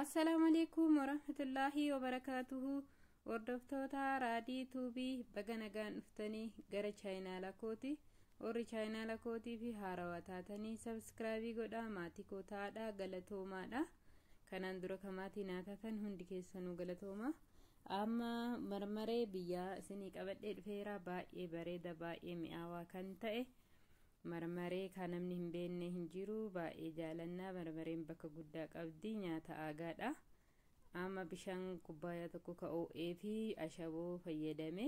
Assalaamu alaikum warahmatullaahi wabarakaatuhu hordoftoota raadii tuubii baga nagaan dhuftanii gara chaayinaala kooti warri chaayinaala kootii fi haarawaa taatanii sabiskiraabii godhaa maatii koo ta'aadha galatoomaadha kanaan dura ka maatii naa taatan hundi keessanuu galatooma amma marmaree biyyaa isinii qabadhee dhufeera baay'ee bareeda baay'ee mi'aawaa kan ta'e Marmaree kaa namni hin beenne hin jiru baay'ee jaalanna marmareen bakka guddaa qabdi nyaata aagaadha amma bishaan kubbaayaa tokko ka oo'ee fi ashaboo fayyadame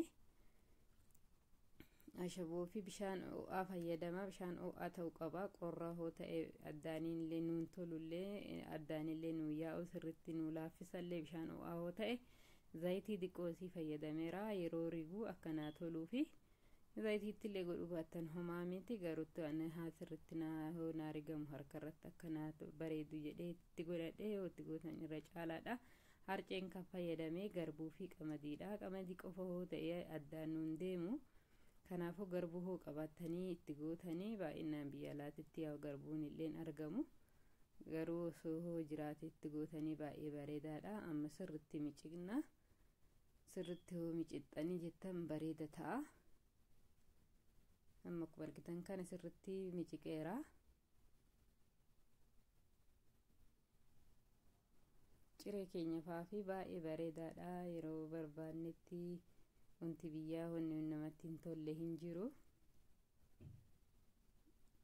ashaboo fi bishaan oo'aa fayyadama bishaan oo'aa ta'uu qaba qorra hoo ta'e addaaniillee nuun tolullee addaanillee nuun yaa'u sirritti nuu laaffisallee bishaan oo'aa hoo ta'e zayitii diqqoosii fayyadameera yeroo riguu akkanaa toluu fi Invayitiitti illee godhuu baattan homaa miti garuttu ani haa sirritti naa yoo naa rigamu harka irratti akka naa bareedu jedhee itti godhadhe yoo itti gootan irra caalaadha. Harceen kan fayyadame garbuu fi qamadiidha. Qamadii qofa hoo ta'e addaan nuun deemu. Kanaafuu garbuu hoo qabaattanii itti gootanii baay'inaan biyya alaatitti yaa garbuun illeen argamu. Garuu osoo hoo jiraate itti gootanii baay'ee bareedaadha. Amma sirritti micciqna. sirritti yoo micixxanii jettan bareeda ta'a amma akkuma argitan kana sirritti miciqeera ciree keenya faafii baay'ee bareedaadha yeroo barbaannetti wanti biyyaa wanni namatti hin tolle hin jiru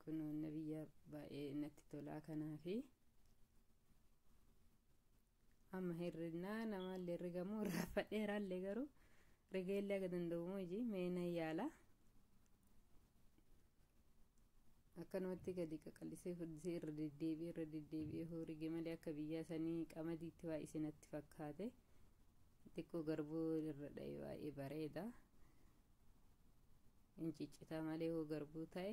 kun wanna biyyaa baay'ee natti tolaa kanaafi. amma hirrinnaa namaallee rigamoo irraa fadheeraallee garuu rigeellee aga danda'u moji meena yaala akkanumatti gadi qaqallisee furdisee irra deddeebi'ee irra deddeebi'ee hoo rige malee akka biyyaa sanii qamadiitti waa isinatti fakkaate xiqqoo garbuu irra dha'e baay'ee bareeda hin ciccitaa malee hoo garbuu ta'e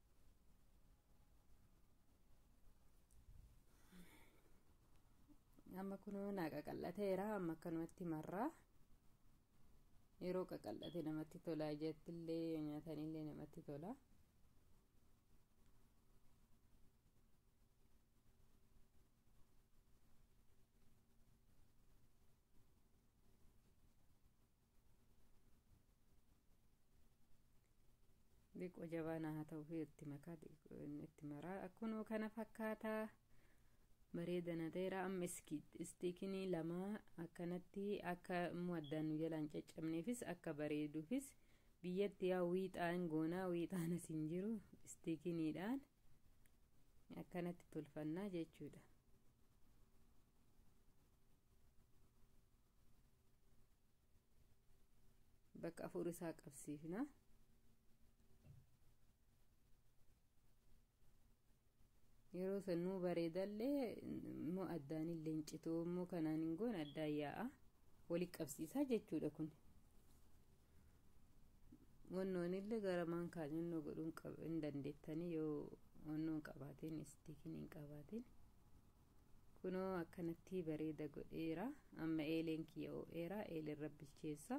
amma kunoo naa qaqal'ateera amma akkanumatti marraa yeroo qaqal'ate namatti tola jettillee yoo nyaatanillee namatti tola Diqoo jabaa naa haa ta'u fi itti makaa diqoo inni itti maraa akkunoo kana fakkaataa bareeda na ta'eera amma iski- istiikinii lama akkanatti akka immoo addaan nu jalaan caccabneefis akka bareeduufis biyyatti yaa wiixaan goonaa wiixaan as hin jiru istiikiniidhaan akkanatti tolfannaa jechuudha. bakka afur isaa qabsiifna yeroo san nuu bareedallee immoo addaan illee hin citu immoo kanaan hin goone addaan yaa'a wali qabsiisaa jechuudha kun wannoon illee gara maan kaanyannoo godhuun hin dandeettanii yoo wannoon qabaatiin istiikiin hin qabaatiin kunoo akkanatti bareeda godheera amma eeleen kiyya oo'eera eelerra bilcheessa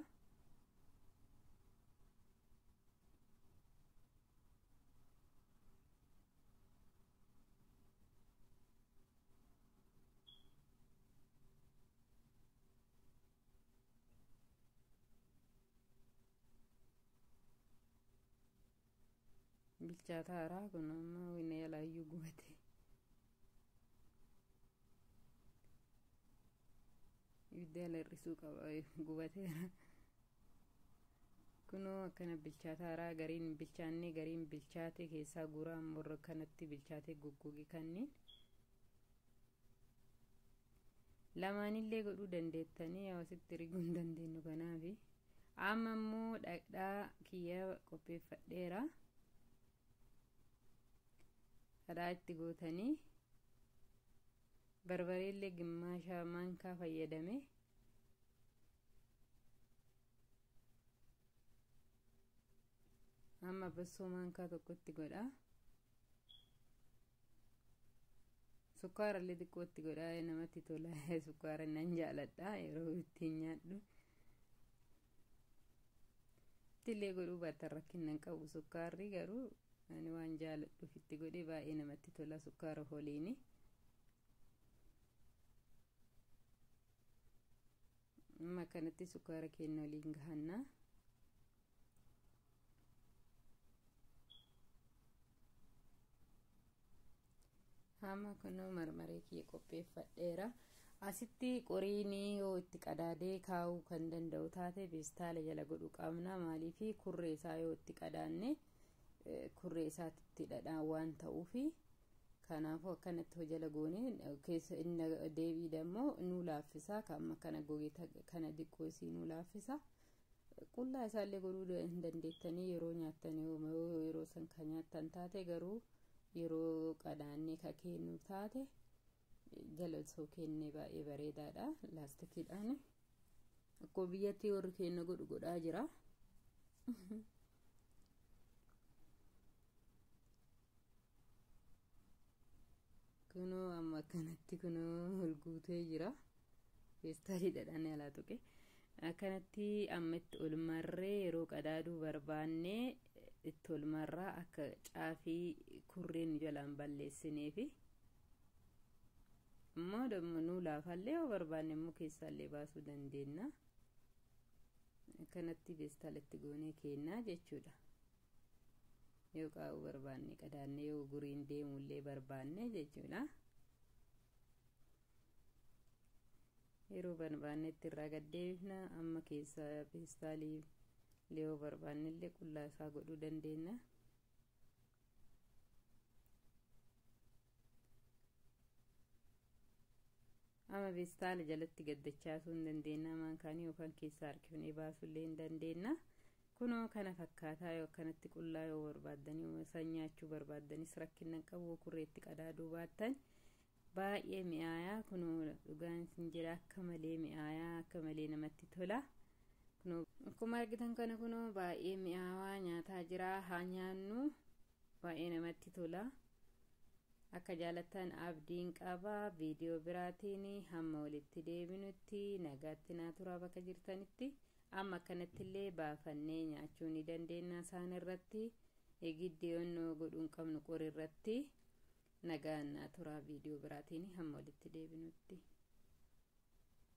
bilchaataa haraa kun amma wina yalaayyuu gubate ibidda yala hir'isuu qaba gubateera kunoo akkana bilchaataa haraa gariin bilchaannee gariin bilchaatee keessaa guuraa morra kanatti bilchaatee goggogee kanniin lamaanillee godhuu dandeettanii yoo asitti erguu hin dandeenyu kanaafi amma immoo dhaqdhaa kiyya qopheeffadheera kadhaa itti gootanii barbareellee gimmaasha maankaa fayyadame amma bassoo maankaa tokkotti godhaa Sukkaara illee xiqqootti godhaa namatti tola sukkaara nan jaaladha yeroo ittiin nyaadhu. Ittillee godhuu baatan rakkinnan qabu sukkaarri garuu ani waan jaaladhuuf itti godhee baay'ee namatti tola sukkaara holiini. amma kanatti sukkaara keenya waliin gahanna hamma kunoo marmaree kiyya qopheeffadheera asitti qoriin yoo itti qadaadee kaa'uu kan danda'u taate beestaala jala godhu qabna maaliif kurree isaa yoo itti qadaanne kurree isaatti dhadhaan waan ta'uufi Kanaafuu akkanatti hojala goonee keessa inni deebii dammoo nu laaffisa ka amma kana goge kana diqqoo isii nu laaffisa. Qullaa isaallee godhuu hin dandeettanii yeroo nyaattan yeroo san ka nyaattan taate garuu yeroo qadaannee ka keennu taate galatoo kenne baay'ee bareedaadha laastikiidhaan akkuma biyyattii warri keenya godhu godhaa jira kunoo amma akkanatti kunoo ol guutee jira feestaaliidhaan alaa tuqe akkanatti amma itti ol marree yeroo qadaaduu barbaanne itti ol marraa akka caafii kurreen jalaan balleessineefi immoo damma nuu laafaallee yoo barbaanne immoo keessaallee baasuu dandeenya akkanatti beestaalatti goonee keennaa jechuudha yoo qaa'uu barbaanne qadaannee yoo guriin deemullee barbaanne jechuudha yeroo barbaannetti irraa gaddeebifna amma keessaa beestaalii yoo barbaannellee qullaa isaa godhuu dandeenya ama beestaala jalatti gaddachaasuu hin dandeenna amaan kaanii yookaan keessaa harkifnee baasuu illee hin dandeenna kunoo kana fakkaataa yoo akkanatti qullaa yoo barbaaddanii san nyaachuu barbaaddanis rakkinnan qabu kurreetti qadaaduu baattan Baay'ee mi'aayaa kunoo dhugaan isin jira akka malee mi'aayaa akka malee namatti tola. Kunoo akkuma argitan kana kunoo baay'ee mi'aawaa nyaataa jira haa nyaannu baay'ee namatti tola. Akka jaalattan abdiin qaba viidiyoo biraatiin hamma walitti deebinutti nagaatti naa turaa bakka jirtanitti amma akkanatti illee baafannee nyaachuu ni dandeenya isaan irratti giddi onnoo godhuun qabnu qori irratti. Nagaan naa turaa video biraatiini hamma walitti deebinutti.